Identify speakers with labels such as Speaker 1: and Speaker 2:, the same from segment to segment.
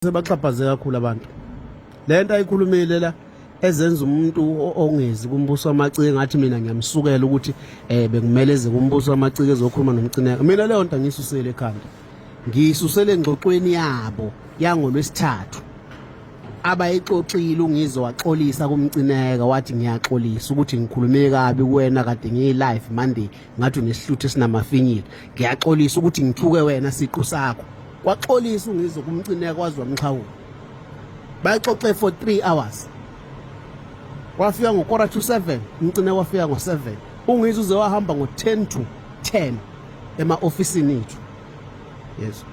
Speaker 1: sebaxhaphaze kakhulu abantu le nto ayikhulumile la ezenza umuntu ongezi kumbuso wamacike ngathi mina ngiyamsukela ukuthi eh bekumele eze kumbuso wamacike ezokhuluma nomcineka mina leyo nto angiyisusele ekhanda ngiyisusele engxoxweni yabo yangolwesithathu abayixoxile ungize waxolisa kumcineka wathi ngiyaxolisa ukuthi ngikhulume kabi kuwena kade ngiyi-live monday ngathi unesihluthi esinamafinyila ngiyaxolisa ukuthi ngithuke wena siqu sakho kwaxolisa ungizwe kumcineka kwazi wamxhawula bayaxoxe for 3 hours wafika ngokora to 7 umcine wafika ngo-7 ungizwe uze wahamba ngo-10 to 10 ema-ofisini ethu yezo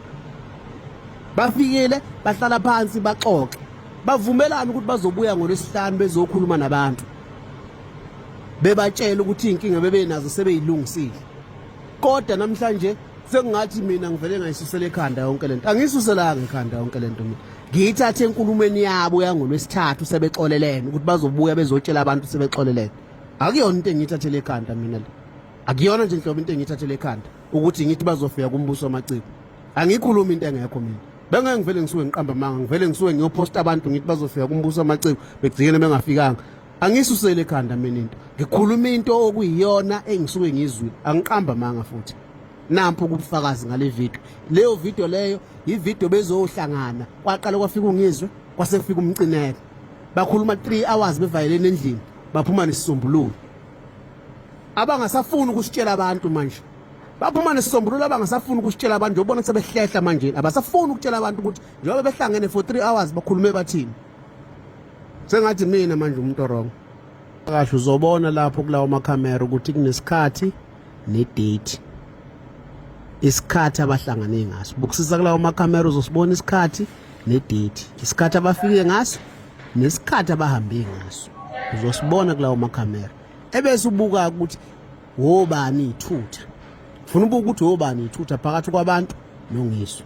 Speaker 1: bafikile bahlala phansi baxoxe bavumelana ukuthi bazobuya ngolwesihlanu bezokhuluma nabantu bebatshela ukuthi inkinga bebenazo sebeyilungisile kodwa namhlanje sekungathi mina ngivele ngayisusela ekhanda yonke lento angisuselanga ekhanda yonke lento mina ngiyithathe enkulumeni yabo yangolwesithathu sebexolelene ukuthi bazobuya bezotshela abantu sebexolelene akuyona into engiyithathele ekhanda mina le akuyona nje nhlobo into engiyithathele ekhanda ukuthi ngithi bazofika kumbuso wamaciko angikhulumi into engekho mina bengeke ngivele ngisuke ngiqamba amanga ngivele ngisuke ngiyophosta abantu ngithi bazofika kumbuso amaciko begcikele bengafikanga angisusele ekhanda mina into ngikhuluma into okuyiyona engisuke ngizwile angiqamba amanga futhi nampo kubufakazi ngale video leyo video leyo yivideo bezohlangana kwaqala kwafika ungizwe kwase kufika umcineka bakhuluma 3 hours bevayelene endlini baphuma nesisombululo abangasafuni ukusitshela abantu manje baphuma nesisombululo abangasafuni ukusitshela abantu njengoba bona sebehlehla manje abasafuni ukutshela abantu ukuthi njengoba behlangene for 3 hours bakhulume bathini sengathi mina manje umuntu wrong kahle uzobona lapho kulawo makhamera ukuthi kunesikhathi nedate isikhathi abahlangane ngaso bukusisa kulawo makhamera uzosibona isikhathi nedate isikhathi abafike ngaso nesikhathi abahambe ngaso uzosibona kulawo makhamera ebese ubuka ukuthi wobani ithutha funa ubuke ukuthi wobani ithutha phakathi kwabantu nongiswa